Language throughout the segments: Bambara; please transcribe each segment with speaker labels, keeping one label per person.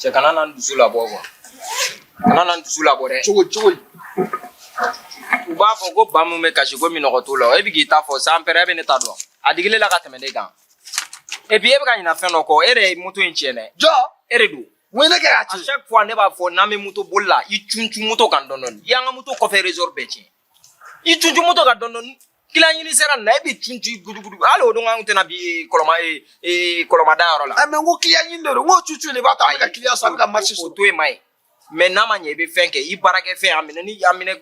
Speaker 1: Cɛ kana na dusu labɔ quoi kana na dusu labɔ dɛ cogo cogo u b'a fɔ ko ba min bɛ kasi ko minnɔgɔ t'o la e bɛ k'i ta fɔ san pɛrɛ e bɛ ne ta dɔn a digilen la ka tɛmɛ ne kan et puis e bɛ ka ɲinɛ fɛn dɔ kɔ e de ye moto in tiɲɛ dɛ jɔn e de
Speaker 2: don
Speaker 1: mun ne kɛ k'a tiɲɛ chaque
Speaker 2: fois ne b'a fɔ
Speaker 1: n'an bɛ moto boli la i cun cun moto kan dɔɔni dɔɔni i y'an ka moto kɔfɛ ressort bɛɛ tiɲɛ i cun cun moto kan dɔɔni dɔɔni client ɲini sera nin na e bɛ cun cun gudugudu hali o don an tɛna bin kɔlɔma ee kɔlɔma da yɔrɔ la. ɛ mais n ko client ɲini de don
Speaker 2: n ko cun cun de b'a to an bɛ ka client sɔrɔ an bɛ ka marché sɔrɔ. o to yen ma
Speaker 1: ye mais n'a ma ɲɛ i bɛ fɛn kɛ i baarakɛfɛn a minɛ ni a minɛ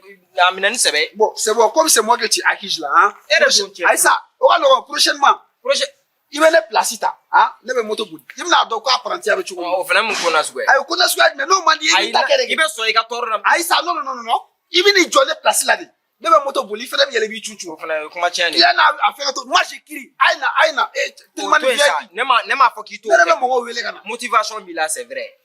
Speaker 1: a minɛ ni sɛbɛ. bon c'est bon comme c'est
Speaker 2: moi que tu accuses là hein. e de don cɛ ayi
Speaker 1: sa o ka nɔgɔn
Speaker 2: prochainement. prochainement. i
Speaker 1: bɛ ne
Speaker 2: pilasi ta ne bɛ moto boli i bɛn'a dɔn ko aprantiya bɛ cogo min o fana mun kuma suguya
Speaker 1: ayi kuma suguya jumɛn n'o man
Speaker 2: di i ta kɛ de i bɛ sɔn i ka tɔɔrɔ la
Speaker 1: ayi sa non
Speaker 2: non non i bɛ n'i jɔ ne pilasi la de ne bɛ moto boli i fana bɛ yɛlɛ b'i cun cun o fana ye kuma tiɲɛ de
Speaker 1: ye yan'a a fɛ ka to
Speaker 2: ma si kiri a ye na a ye na e telimani VIP ne ma ne m'a fɔ k'i to ne
Speaker 1: yɛrɛ bɛ mɔgɔw wele ka
Speaker 2: na motivation b'i la c'est vrai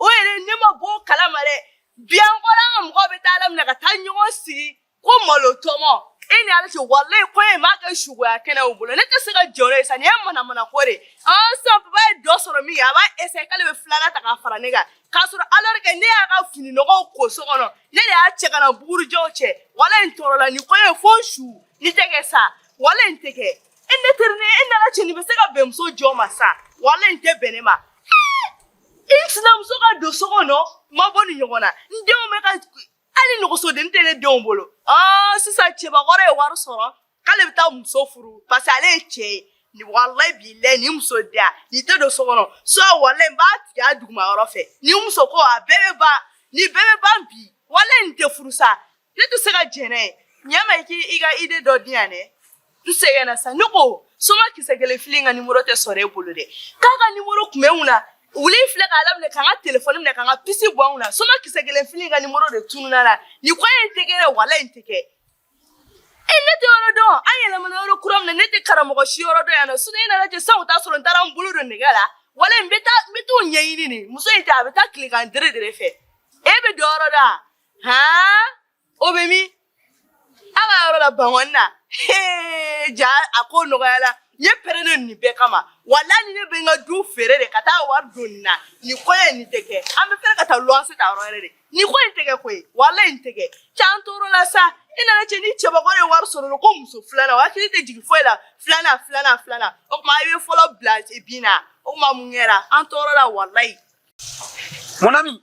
Speaker 3: o yɛrɛ ne ma bɔ o kalama dɛ bi an kɔrɔla an ka mɔgɔw bɛ taa a laminɛ ka taa ɲɔgɔn sigi ko malo tɔmɔ e ni ala cɛ walayi ko e m'a kɛ suguya kɛnɛ o bolo ne tɛ se ka jɛn n'o ye sa nin ye manamana ko de sisan papa ye dɔ sɔrɔ min kɛ a b'a essayer k'ale bɛ filanan ta k'a fara ne kan k'a sɔrɔ alors que ne y'a ka fini nɔgɔw ko so kɔnɔ ne de y'a cɛ ka na bugurijɛw cɛ walayi n tɔɔrɔla nin ko ye fo su nin tɛ kɛ sa walayi nin tɛ kɛ e ne teri ne e ni ala cɛ nin bɛ se ka bɛn muso jɔn ma sa walayi nin tɛ bɛn ne ma i sinamuso ka don so kɔnɔ ma bɔ nin ɲɔgɔn na n denw bɛ ka hali nɛgɛsoden tɛ ne denw bolo aa sisan cɛbakɔrɔ ye wari sɔrɔ k'ale bɛ taa muso furu parce que ale ye cɛ ye ni walayi bilayi ni muso diya nin tɛ don so kɔnɔ sa walayi n b'a tigɛ a duguma yɔrɔ fɛ nin muso ko a bɛɛ bɛ ban nin bɛɛ bɛ ban bi walayi nin tɛ furu sa ne tɛ se ka jɛn n'a ye ɲɛma i k'i i ka idée dɔ di yan dɛ n sɛgɛnna sa ne ko soma kisɛ kelen fili ka nimoro tɛ sɔrɔ e bolo dɛ k'a ka nimoro tun bɛ n kunna wuli filɛ k'a laminɛ k'an ka telefɔni minɛ k'an ka pisi bɔ an kunna soma kisɛ kelen fili ka nimoro de tununna la nin ko in tɛ kɛ dɛ walayi nin tɛ kɛ e ne tɛ yɔrɔ dɔn an yɛlɛmana yɔrɔ kura min na ne tɛ karamɔgɔ si yɔrɔ dɔn yan non sinon e ni ala cɛ sisan o t'a sɔrɔ n taara n bolo don nɛgɛ la walayi n bɛ taa n bɛ t'o ɲɛɲini de muso in tɛ a bɛ taa tilegan dere dere fɛ e bɛ dɔ yɔrɔ dɔn han o bɛ min a ka yɔrɔ la bankɔni na ja a ko nɔgɔyala n ye prêt ne nin bɛɛ kama walayi ni ne bɛ n ka du feere de ka taa wari don nin na nin ko ye nin tɛ kɛ an b'a feere ka taa luwanse ta yɔrɔ wɛrɛ de nin ko in tɛ kɛ koyi walayi nin tɛ kɛ cɛ an tɔɔrɔla sa i ni ala cɛ ni cɛbakɔrɔ ye wari sɔrɔ la ko muso filanan o hakili tɛ jigin foyi la filanan filanan filanan o tuma i bɛ fɔlɔ bila bin na o tuma mun kɛra an tɔɔrɔla walayi.
Speaker 2: mon ami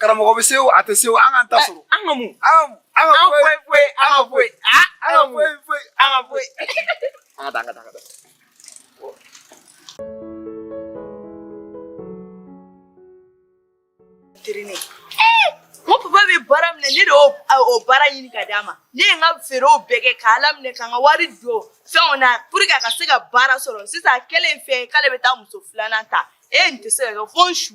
Speaker 2: karamɔgɔ bɛ se o a tɛ se o an k'an ta sɔrɔ an ka mun
Speaker 1: an ka
Speaker 2: foyi an
Speaker 1: ka
Speaker 3: taa ko papa bɛ baara min na ne de y'o baara ɲini ka d'a ma ne ye n ka feerew bɛɛ kɛ k'a laminɛ ka n ka wari don fɛnw na pour que a ka se ka baara sɔrɔ sisan a kɛlen fɛn k'ale bɛ taa muso filanan ta e nin tɛ se ka kɛ fo n su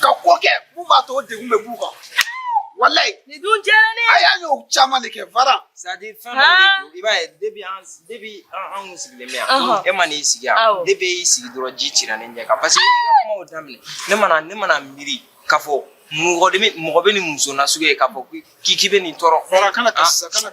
Speaker 2: ka ko kɛ mun b'a to o degun bɛ b'u kan walayi nin dun
Speaker 3: diyara ne ye a y'a y'o caman de
Speaker 2: kɛ fara sadi fɛn dɔ de
Speaker 1: don i b'a ye depi an depi an kun sigilen bɛ yan e ma n'i sigi yan depi e y'i sigi dɔrɔn ji cira ne ɲɛ kan paseke i ka kumaw daminɛ ne mana ne mana miiri k'a fɔ mɔgɔ bɛ mɔgɔ bɛ nin muso nasugu ye k'a fɔ k'i k'i bɛ nin tɔɔrɔ fara kana ka kana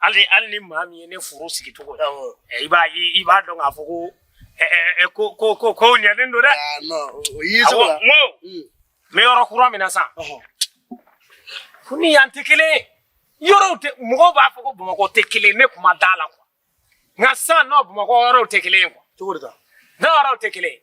Speaker 4: hali hali ni maa min ye ne furu sigi cogo ye eh, i b'a ye i b'a dɔn k'a fɔ ko eh, eh, ko ko ko ko ɲɛnen don dɛ ah, n ko
Speaker 5: hmm. n bɛ
Speaker 4: yɔrɔ kura min na sisan o ni yan tɛ kelen ye yɔrɔw tɛ mɔgɔw b'a fɔ ko bamakɔ tɛ kelen ne kun ma d'a la kuwa nka sisan non bamakɔ yɔrɔw tɛ kelen ye kuwa cogo di ta
Speaker 5: non yɔrɔw tɛ kelen
Speaker 4: ye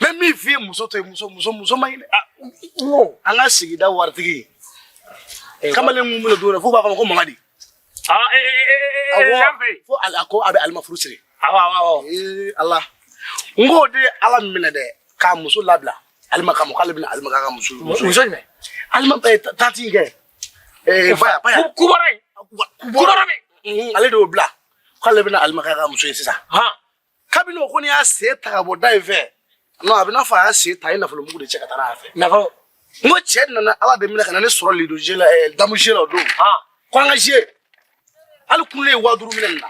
Speaker 5: n bɛ min f'i ye muso to yen muso muso muso man ɲi dɛ an ka sigida waritigi kamalen mun bolo don fo b'a fɔ ko mamadi fo ala ko a bɛ alima furu siri ala n k'o de ye ala minɛ dɛ k'a muso labila alima kama k'ale bɛna alima k'a ka muso muso
Speaker 4: jumɛn
Speaker 5: alima tati kɛ baya baya kubara
Speaker 4: kubara ale de y'o bila
Speaker 5: k'ale bɛna alima k'a ka muso ye sisan kabini o kɔni y'a sen ta ka bɔ da in fɛ non a bɛ n'a fɔ a y'a sen ta a ye nafolo mugu de cɛ ka taa n'a fɛ nafolo n ko
Speaker 4: cɛ
Speaker 5: nana ala de minɛ ka na ne sɔrɔ ludo jeu la eh, damu jeu la o don ko an ka jeu hali kunun ne ye waa duuru minɛ nin
Speaker 4: na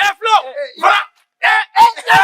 Speaker 4: ɛ filo fara ɛ ɛ ɛ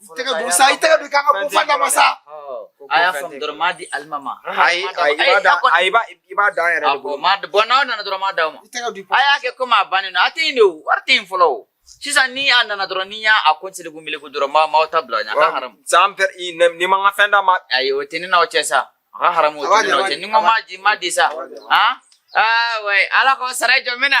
Speaker 2: i tɛ k'a dɔn sa i tɛ k'a dɔn k'an ka kun fanta ma sa a y'a
Speaker 6: faamu dɔrɔn m'a di alima ma
Speaker 1: ayi ayi i b'a da ayi i b'a da an yɛrɛ de bolo ma bon n'aw nana dɔrɔn m'a
Speaker 6: d'aw ma a y'a kɛ komi a bannen don a tɛ yen de o wari tɛ yen fɔlɔ o sisan ni a nana dɔrɔn ni y'a a ko seliku meleku dɔrɔn ma m'aw ta bila a ɲɛ a ka haramu san pɛr
Speaker 1: n'i ma n ka fɛn d'a ma ayi o tɛ ne n'aw cɛ
Speaker 6: sa a ka haramu o tɛ ne n'aw cɛ ni n ko m'a di m'a di sa han aa wɛ ala k'aw sara jɔ n bɛ na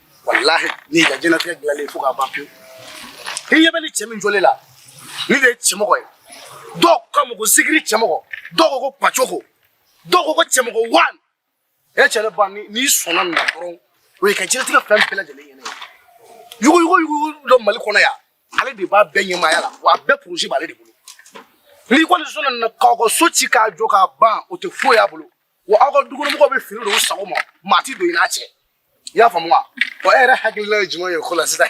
Speaker 5: walahi ne y'i ka diɲɛnatigɛ dilanlen fo k'a ban pewu i ɲɛ bɛ nin cɛ min jɔlen la nin de ye cɛmɔgɔ ye dɔw k'a ma ko sigiri cɛmɔgɔ dɔw ko ko pacoko dɔw ko ko cɛmɔgɔ wan e cɛ ne ba n'i sɔnna nin na dɔrɔn o y'i ka diɲɛnatigɛ fɛn bɛɛ lajɛlen ɲɛnen ye yuguyugu yugu don mali kɔnɔ yan ale de b'a bɛɛ ɲɛmaaya la wa a bɛɛ poroze b'ale de bolo n'i kɔni sɔnna nin na k'aw ka so ci k'a jɔ k'a ban o tɛ foyi y'a bolo wa aw ka dukɔnɔmɔgɔw bɛ fini don u sago ma maa ti don i n'a cɛ i y'a faamu wa wa e yɛrɛ hakilila ye jumɛn ye o ko la sisan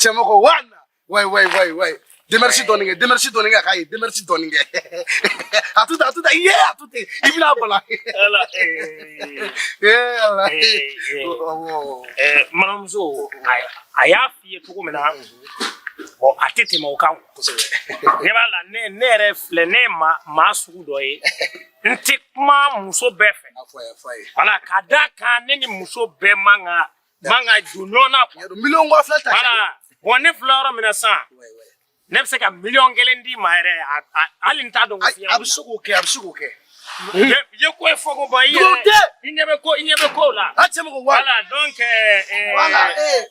Speaker 5: cɛmɔgɔ wa na wayi wayi wayi wayi demerisi dɔɔnin kɛ demerisi dɔɔnin kɛ k'a ye demerisi dɔɔnin kɛ a to ten a to ten ye a to ten i bɛna bala
Speaker 4: manamuso a y'a f'i ye cogo min na bɔn a tɛ tɛmɛ o kan ne b'a la ne yɛrɛ filɛ ne ye maa sugu dɔ ye n tɛ kuma muso bɛɛ fɛ wala ka d'a kan ne ni muso bɛɛ man ka man ka don ɲɔgɔn na miliyɔn kɔ fila ta wala
Speaker 5: bɔn ne filɛ
Speaker 4: yɔrɔ min na sisan ne bɛ se ka miliyɔn kelen d'i ma yɛrɛ hali n t'a dɔn ko fiɲɛ a bɛ se k'o kɛ a bɛ se
Speaker 5: k'o
Speaker 4: kɛ ye ko ye fɔ ko ba i yɛrɛ i ɲɛ bɛ ko i ɲɛ bɛ ko la a cɛmɔgɔ wala donc ɛɛ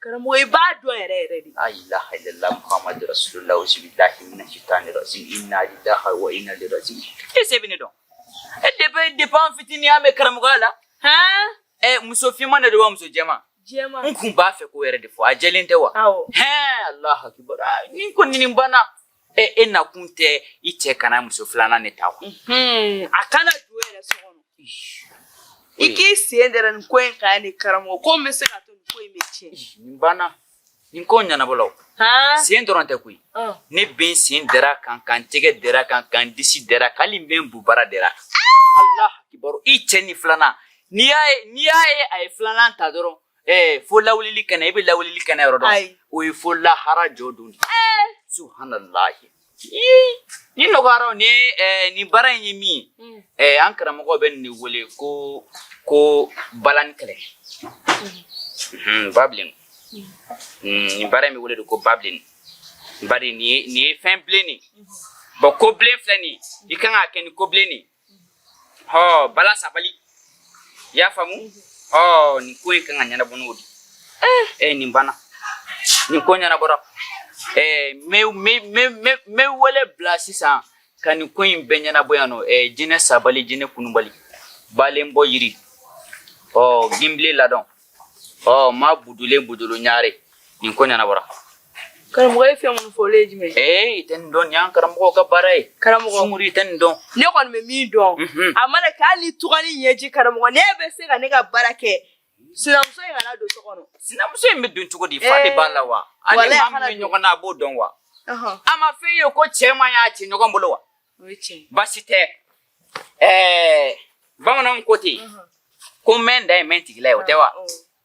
Speaker 3: Karamɔgɔ i b'a dɔn yɛrɛ yɛrɛ de. La ilaha
Speaker 6: illallah Muhamadu rasulula auzubilahi mina sitani rajim ina lillahi wa ina ilaihi rajiun. Est-ce e bɛ ne dɔn. E depuis depuis an fitini an bɛ karamɔgɔya la. Hɛn. Ɛ muso finman de don wa muso jɛman? Jɛman. N kun b'a
Speaker 3: fɛ k'o yɛrɛ
Speaker 6: de fɔ a jɛlen tɛ wa? Awɔ. Hɛn Alahu
Speaker 3: akibaru
Speaker 6: aa nin kɔni nin banna. e e nakun tɛ i cɛ kana muso filanan ne ta wa a
Speaker 3: kana don yɛrɛ so kɔnɔ i k'i sen dɛrɛ nin ko in kan ni karamɔgɔ ko n bɛ se k'a to nin ko in bɛ tiɲɛ nin banna
Speaker 6: nin ko ɲɛnabɔla sen dɔrɔn tɛ koyi ne bɛ n sen dɛrɛ a kan ka n tɛgɛ dɛrɛ a kan ka n disi dɛrɛ a kan hali n bɛ n bubara dɛrɛ a kan alahu akibaru i cɛ ni filanan n'i y'a ye n'i y'a ye a ye filanan ta dɔrɔn Ɛɛ fo lawulili kɛnɛ e bɛ lawulili kɛnɛ yɔrɔ dɔn o ye fo lahara jɔ don subuhanalayi nin nɔgɔyara ni ni baara in ye min hmm. an karamɔgɔ bɛ nin wele ko ko bala ni kɛlɛ hmm, ba hmm. ni baara in bɛ wele de ko ba bilen bari nin ye fɛn bilen nin bɔn ko bilen filɛ nin i kan ka kɛ ni ko bilen nin hɔ bala sabali i y'a faamu hɔ nin ko in kan ka ɲɛnabɔ n'o de ye nin banna nin ko ɲɛnabɔra n bɛ wele bila sisan ka nin ko in bɛɛ ɲɛnabɔ yan nɔ jinɛ sabali jinɛ kunubali balenbɔ yiri ɔ ginbile ladɔn ɔ ma budulen budulu ɲare nin ko ɲɛnabɔra karamɔgɔ
Speaker 3: ye fɛn minnu fɔ olu ye jumɛn ee i tɛ nin dɔn nin y'an
Speaker 6: karamɔgɔw ka baara ye karamɔgɔ sunguru i tɛ nin
Speaker 3: dɔn
Speaker 6: ne kɔni bɛ min dɔn
Speaker 3: mhm. a mana kɛ hali ni tugani ɲɛji karamɔgɔ ne bɛ se ka ne ka baara kɛ sinamuso in kana don so kɔnɔ sinamuso in bɛ don
Speaker 6: cogo di fa de b'a la wa an ni maa min bɛ ɲɔgɔn na a b'o dɔn wa a ma f'e ye ko cɛ man y'a ci ɲɔgɔn bolo wa baasi tɛ Ɛɛ bamananw ko ten ko mɛn da ye mɛn tigila ye o tɛ wa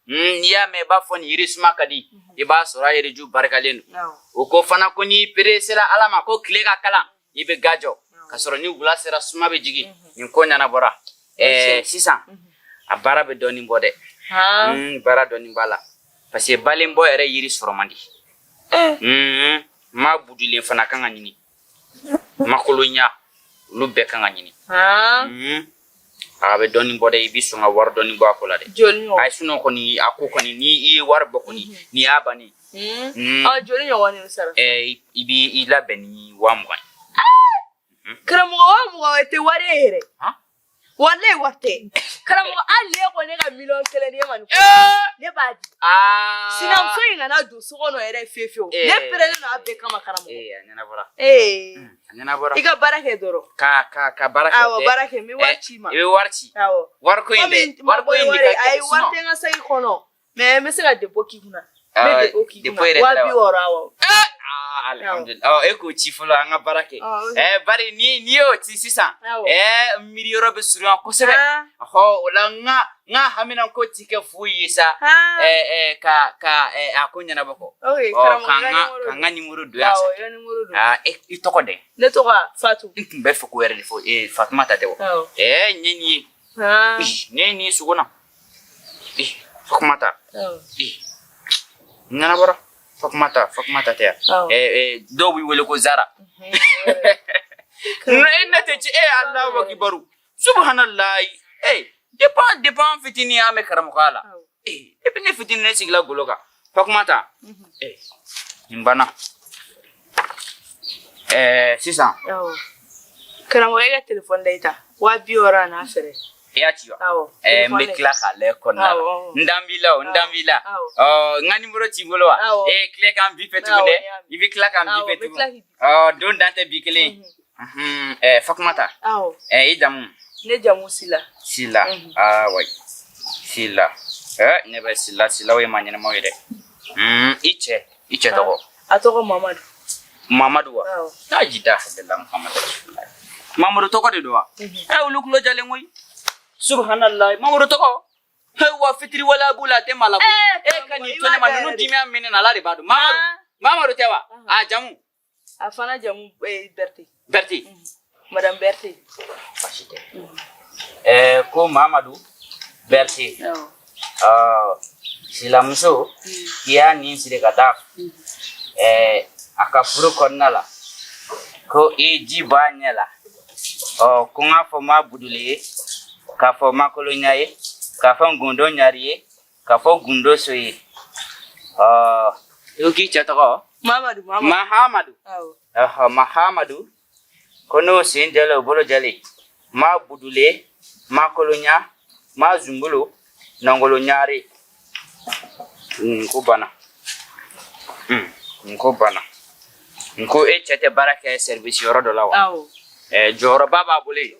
Speaker 6: n'i y'a mɛn i b'a fɔ ni yiri suma ka di i b'a sɔrɔ a yiriju barikalen don o ko fana ko n'i peresera ala ma ko tile ka kalan i bɛ ga jɔ ka sɔrɔ ni wula sera suma bɛ jigin nin ko ɲɛnabɔra ɛɛ sisan a baara bɛ dɔɔnin bɔ dɛ baara dɔɔnin b'a la parce que balenbɔ yɛrɛ yiri sɔrɔ man di maa budulen fana kan ka ɲini makolonya olu bɛɛ kan ka ɲini mhm. a bɛ dɔɔnin bɔ dɛ i bɛ sɔn ka wari dɔɔnin bɔ a ko la dɛ ayi sinon kɔni a ko kɔni ni i ye wari bɔ kɔni mhm. nin y'a bannen mhm. ah,
Speaker 3: joli ɲɔgɔn de sara eh, i bɛ
Speaker 6: i labɛn ni wa mugan ye ah! karamɔgɔ wa mugan
Speaker 3: o tɛ wari ye yɛrɛ Walayi wari tɛ karamɔgɔ hali n'e ko ne ka miliyɔn kelen di e ma ne b'a di sinamuso in kana don so kɔnɔ yɛrɛ fe fewu ne pɛrɛlen don a bɛɛ kama karamɔgɔ i ka baara kɛ dɔrɔn ka
Speaker 6: baara baara kɛ n bɛ wari ci
Speaker 3: i ma i bɛ wari ci
Speaker 6: wari ayi wari tɛ n ka saki
Speaker 3: kɔnɔ Mais n bɛ se ka dépôt k'i
Speaker 6: kun e k'o ci fɔlɔ an ka baara kɛ bari ni n'i y'o ci sisan miiri yɔrɔ bɛ surunya kosɛbɛ ɔ o la n ka n ka hamina ko tɛ kɛ foyi ye sa ka ka a ko ɲɛnabɔ kɔ ka n ka nimoro don yan i tɔgɔ dɛ ne tɔgɔ fatu
Speaker 3: n tun bɛ fɛ k'o yɛrɛ de
Speaker 6: fɔ fatumata tɛ wa ɛɛ n ye nin ye ne ye nin sugo na Fatumata ɲɛnabɔra Fatumata Fatumata tɛ yan dɔw b'i wele ko Zara e ne tɛ ci e Alahu akibaru subuhanalayi ee depuis depuis an fitinin an bɛ karamɔgɔya la ee depuis ne fitinin ne sigila golo kan Fatumata ee nin banna ɛɛ sisan
Speaker 3: karamɔgɔ e ka telefɔni da i ta wa bi wɔɔrɔ an'a frais i y'a ci
Speaker 6: wa eh, n bɛ tila k'a lajɛ kɔnɔna la n dan b'i la o n dan b'i la ɔ n ka nimoro t'i bolo wa ee eh, tila ka n bipe tugun dɛ i bɛ tila ka n bipe tugun ɔ don dan tɛ bi kelen ye mhm. eh, fatumata i jamu ne jamu
Speaker 3: sila sila mhm. ah,
Speaker 6: wa sila ne bɛ sila silaw ye maa ɲɛnamaw ye dɛ mhm, i cɛ i cɛ tɔgɔ A tɔgɔ
Speaker 3: mamadu
Speaker 6: mamadu wa taa ji da mamadu mamadu tɔgɔ de don wa mhm. a olu tulo jalen koyi subuhanala mamadu tɔgɔ wa fitiriwale b'u la a tɛ maa la eh, e ka nin to ne ma ninnu dimiya min bɛ n na ala de b'a dɔn mamadu ah. mamadu tɛ wa a jamu a fana
Speaker 3: jamu eh, bɛrɛte
Speaker 6: Berti. Mm.
Speaker 3: Madame Berti. Baasi
Speaker 6: tɛ. Mm. Ɛɛ ko Mamadu Berti. Awɔ. Ɔɔ silamuso mm. k'i y'a nin siri ka taa. Mm. Ɛɛ a ka furu kɔnɔna la ko i ji b'a ɲɛ la. Ɔɔ ko n k'a fɔ ma buduli ye k'a fɔ ma kolonya ye k'a fɔ n gundo ɲari ye. Ka fɔ gundo so ye i k'i cɛ tɔgɔ mamadu mahamadu mahamadu ko n'o sen jɛlen o bolo jɛlen ma budule ma kolonya ma zumbolo nɔngolo ɲari n ko bana hmm, n ko bana n ko e cɛ tɛ baara kɛ service yɔrɔ dɔ la wa jɔyɔrɔba b'a bolo yen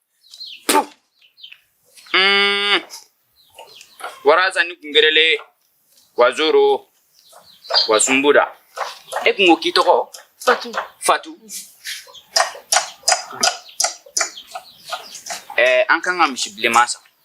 Speaker 6: Mm. Waraza ni kungerele wazoro wazumbuda e kun ko k'i tɔgɔ fatu fatu ɛɛ eh, an kan ka misi bilenman san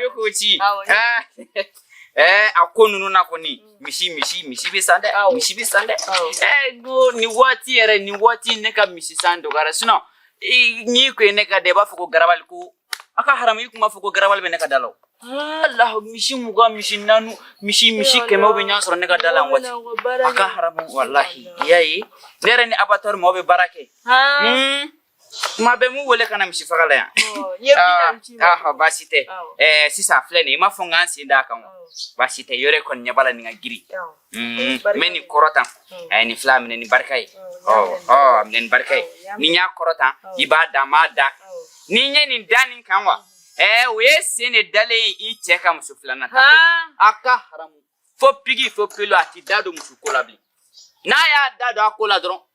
Speaker 6: bɛ ko ci ɛɛ a ko ninnu na kɔni mm. misi misi misi bɛ san dɛ misi bɛ san dɛ ɛɛ ko nin waati yɛrɛ nin waati ne ka misi san dɔgɔyara sinon n'i ko ye ne ka da i b'a fɔ ko garabali ko a ka haramu i tun b'a fɔ ko garabali bɛ ne ka da la walahi misi mugan misi naanu misi misi kɛmɛw bɛ ɲɔgɔn sɔrɔ ne ka da la waati a ka haramu walahi i y'a ye ne yɛrɛ ni abatɔri maaw bɛ baara kɛ kuma bɛɛ n b'u wele ka na misi faga la yan baasi tɛ sisan filɛ nin i m'a fɔ n k'an sen d'a kan baasi tɛ i yɛrɛ kɔni ɲɛ b'a la nin ka girin n bɛ nin kɔrɔta a ye nin fila a minɛ ni barika ye a minɛ ni barika ye ni n y'a kɔrɔta i b'a da n b'a da ni n ye nin da nin kan wa o ye sen de dalen ye i cɛ ka muso filanan ta a ka haramu fo pigi fo pelu a t'i da don muso ko la bilen n'a y'a da don a ko la dɔrɔn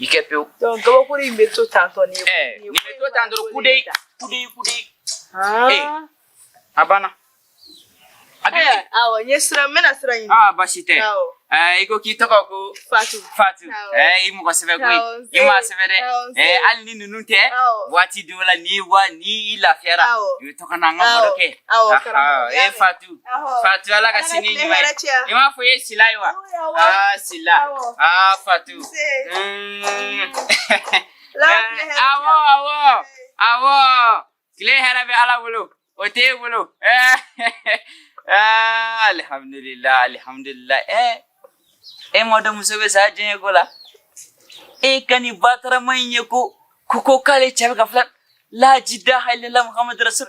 Speaker 6: i kɛ pewu donc gabakuru
Speaker 3: in bɛ to tantɔ ni ye ɛɛ nin bɛ to tan
Speaker 6: dɔrɔn kude kude kude ee a banna a bɛ yen
Speaker 3: awɔ n ye sira n bɛna sira ɲini aa baasi tɛ
Speaker 6: ɛɛ i ko k'i tɔgɔ ko fatu fatu ɛɛ i mɔgɔ sɛbɛ koyi i maa sɛbɛ dɛ ɛɛ hali ni ninnu tɛ waati dɔw la ni wa ni i lafiyara i bɛ to ka na an ka baro kɛ ee fatu Fatu Ala ka sini ɲuman ye. I m'a fɔ i ye Sila ye wa? Aa Sila. Aa Fatu. Awɔ awɔ awɔ. Tile hɛrɛ bɛ Ala bolo. O tɛ e bolo. Alihamudulila alihamudulila. E m'a dɔn muso bɛ sa cɛko la. E ka nin batarama in ye ko ko ko k'ale cɛ bɛ k'a fili. La jidaha ilala Muhamadu Rasul.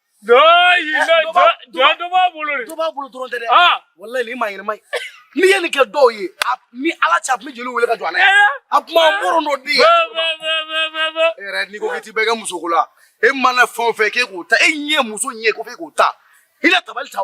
Speaker 5: N'i ye nin kɛ dɔw ye ni ala tɛ a bɛ jeliw wele ka jɔ a kuma muru dɔ di n'i ko tɛ bɛ kɛ muso la e mana fɛn fɛ k'e k'o ta e ɲɛ muso ɲɛ ko k'o ta i tabali ta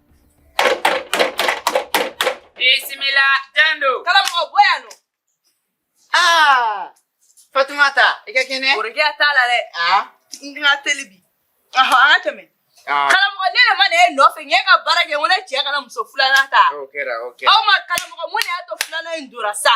Speaker 6: Bisimila don don. Karamɔgɔ bɔ yan nɔ. Aa Fatumata i ka kɛnɛ. Borikiya t'a la dɛ.
Speaker 3: Aa n ka teli bi. Ɔhɔn an ka tɛmɛ. Karamɔgɔ ne de ma na e nɔfɛ n ye ka baara kɛ n ko ne cɛ kana muso filanan ta. O kɛra o kɛra. Aw ma
Speaker 6: karamɔgɔ
Speaker 3: mun de y'a to filanan in donna sa.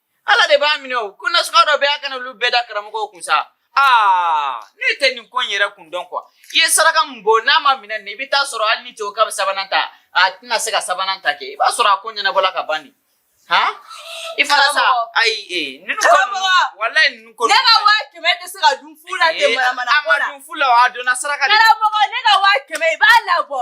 Speaker 6: ala de b'a minɛ o ko nasugu dɔ bɛ a kana olu bɛɛ da karamɔgɔw kun sa aa ne tɛ nin ko in yɛrɛ kun dɔn ko i ye saraka min bɔ n'a ma minɛ nin i bɛ taa sɔrɔ hali n'i cɛ ko k'a bɛ sabanan ta a tɛna se ka sabanan ta kɛ i b'a sɔrɔ a ko ɲɛnabɔla ka ban nin han i fana sa ayi ee ninnu ko ninnu walayi ninnu ko ninnu ne ka wa kɛmɛ tɛ se
Speaker 3: ka dun fu la ten manamana ko la a ma dun fu la a
Speaker 6: donna saraka de la karamɔgɔ ne ka wa
Speaker 3: kɛmɛ i b'a labɔ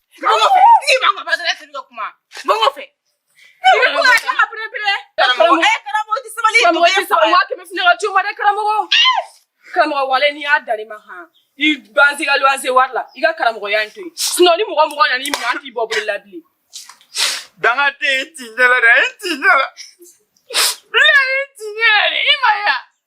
Speaker 3: karamɔgɔ walayi n'i y'a dalen ma han i banse ka luwanse wari la i ka karamɔgɔya in to yen sinɔn ni mɔgɔ mɔgɔ nana i minɛ an t'i bɔ bolo la bilen
Speaker 6: danga tɛ yen t'i ɲɛ la dɛ n t'i ɲɛ la bilayi n t'i ɲɛ la dɛ i m'a ye wa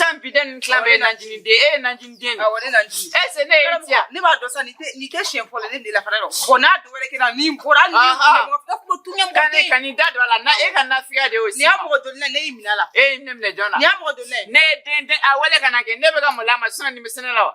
Speaker 6: San bi ni tila bɛ na den e na den e se ne
Speaker 7: ne
Speaker 6: b'a dɔn san
Speaker 7: ni kɛ si fɔlɔ ne de la fana ko n'a dɔw wɛrɛ kɛ ni bɔra ni ka nin da don a la na
Speaker 6: e ka nafiya de nin y'a mɔgɔ dɔn ne y'i
Speaker 7: minɛ la e ne minɛ
Speaker 6: jɔn na y'a mɔgɔ
Speaker 7: dɔn
Speaker 6: ne ne den a wale ka kɛ ne bɛ ka mɔgɔ la ma san ni
Speaker 7: bɛ
Speaker 6: sɛnɛ la wa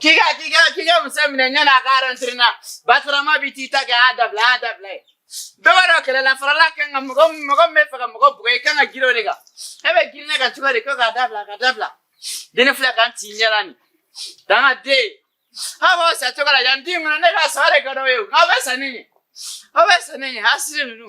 Speaker 6: Kiga kiga kiga musamina nyana garantrina batrama bitita ga a dabila a dabila dɔwɛrɛ kɛlɛ la farala kan ka mɔgɔ mɔgɔ min b'a fɛ ka mɔgɔ bugɔ i kan ka girin o de kan e bɛ girin ne kan cogo di ko k'a dabila k'a dabila den filɛ kan t'i ɲɛ la nin danga den aw b'aw sa cogo la yan den kɔnɔ ne ka sa de ka d'aw ye o aw bɛ sa ne ɲɛ aw bɛ sa ne ɲɛ hasidi ninnu